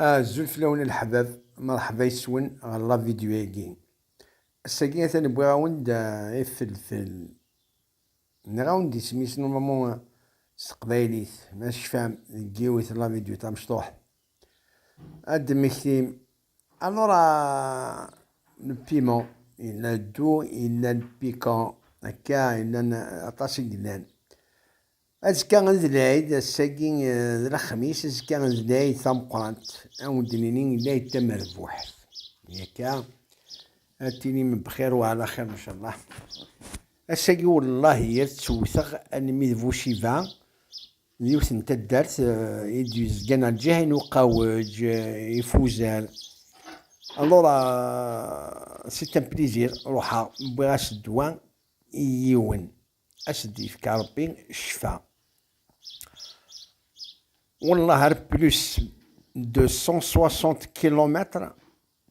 Azul fell-awen a leḥbab, mṛeḥba yes-wen ɣer la vidyu-agi. Ass-agi atan wwiɣ-awen-d ifelfel. Nniɣ-awen-d isem-is n unamu s teqbaylit, ma tecfam deg yiwet n la vidyu tamecṭuḥt ad d-temmektim. Alors a le piment, yella ddu, yella le piquant, akka yellan aṭas i yellan. Azekka d lɛid, ass-agi d lexmis, azekka d lɛid tameqqrant, ad wen-d-nini lɛid tamerbuḥt, yakka, ad tinim bxir u ɛla xir ncallah, ass-agi wellahi ad tt-wwteɣ almi d Buciva, d yiwet n taddart i d-yezgan ɣer lǧiha n Uqawej, Ifuzal, alura c'est un plaisir, ruḥeɣ wwiɣ-as ddwa i yiwen. a s-d-yefk Ṛebbi ccfa. Wellah ar plus de 160 kilomètres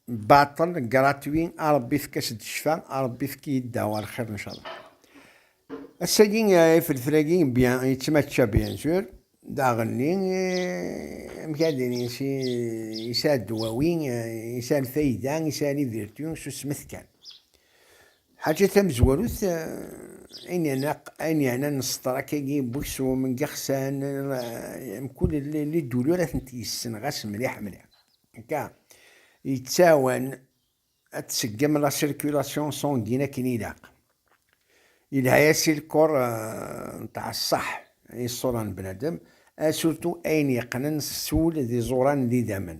baṭel gratuit a Ṛebbi efk-as-d ccfa, a Ṛebbi efk-iyi-d ddawa ar xir ncallah. Ass-agi ifelfel-agi bien yettmačča bien sûr daɣenni amek ad ini yesɛa ddwawi, yesɛa lfayda, yesɛa les vertus, susmet kan. Lḥaǧa tamezwarut, ayen yeɛnan ṣṣeḍrak-agi n weksum n yixsan, mkul liduli ara tent-yessen ɣas mliḥ mliḥ, akka, yettɛawan ad tseggem la circulation sanguine akken ilaq. Yelha-as i lkor n tɛeṣṣaḥ i ṣṣura n bnadem, surtout ayen yeqqnen s ul d iẓuran n yidammen.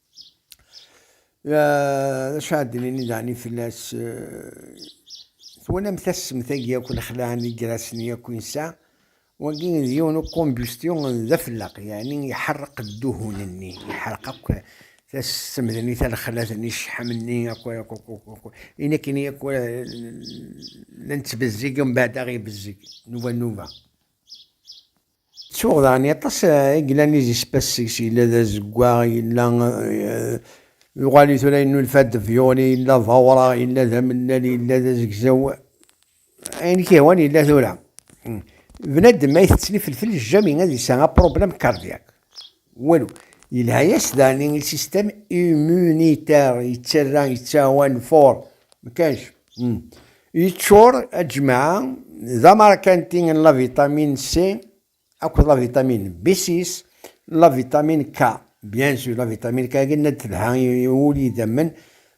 D acu ara d-nini daɣen fell-as? Twalam tassemt-agi akk, lexlaɛ n yigrasen-nni akk i nesɛa? Wagi d yiwen ukumbustyun d afelleq, yeɛni iḥerreq dduhun-nni, iḥerreq akk tassemt-nni, talexlat-nni, ccḥam-nni, akk akk akk akk akk, ayen akken i akk la nettbezzig, mbeɛd ad aɣ-ibezzeg nnuba nnuba. Ttuɣ daɣen aṭas i yellan i zispas seg-s yella d azeggaɣ, yella yuɣal-it tura yennulfa-d Violi, yella d awraɣ, yella d amellal, yella d azegzaw, ayen i k-yehwan yella tura. Bnadem ma itett ifelfel jjami ad yesɛu apṛublem kardiyak. Walu. Yelha-yas daɣen i système immunitaire, yettarra, yettɛawan for, mkanc. Hmm. Yeččur, a jmaɛa, d amarkanti n la vitamine C akked la vitamine B6, la vitamine K. Bien sûr, la vitamine K akken ad telha i wul idammen,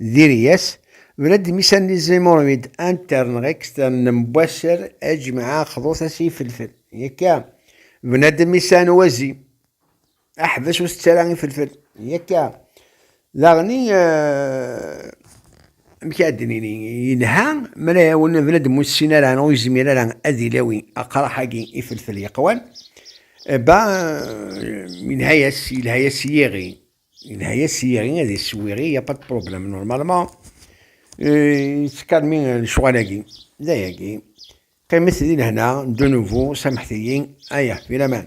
Diri-yas, Bnadi mi s-anni zimurmid intern extern nembuasser ajma'a xḍut as ifelfel. Yakka, Bnadi mi s-an wazi aḥbes ur tettara ifelfel. Yakka, daɣni amek ad d-nini yelha mara yawen bnadi ur tessin ara ur yezmir ara ad ilawi aqraḥ-agi ifelfel yeqwan ba yelha-yas yelha-yas yiɣi Yelha-yas yiri ad iswiri, y a pas de problème normalement. Yettkarmi lecɣal-agi, d ayagi. Qqimet di lehna, de nouveau, samḥet-iyi, aya, di laman.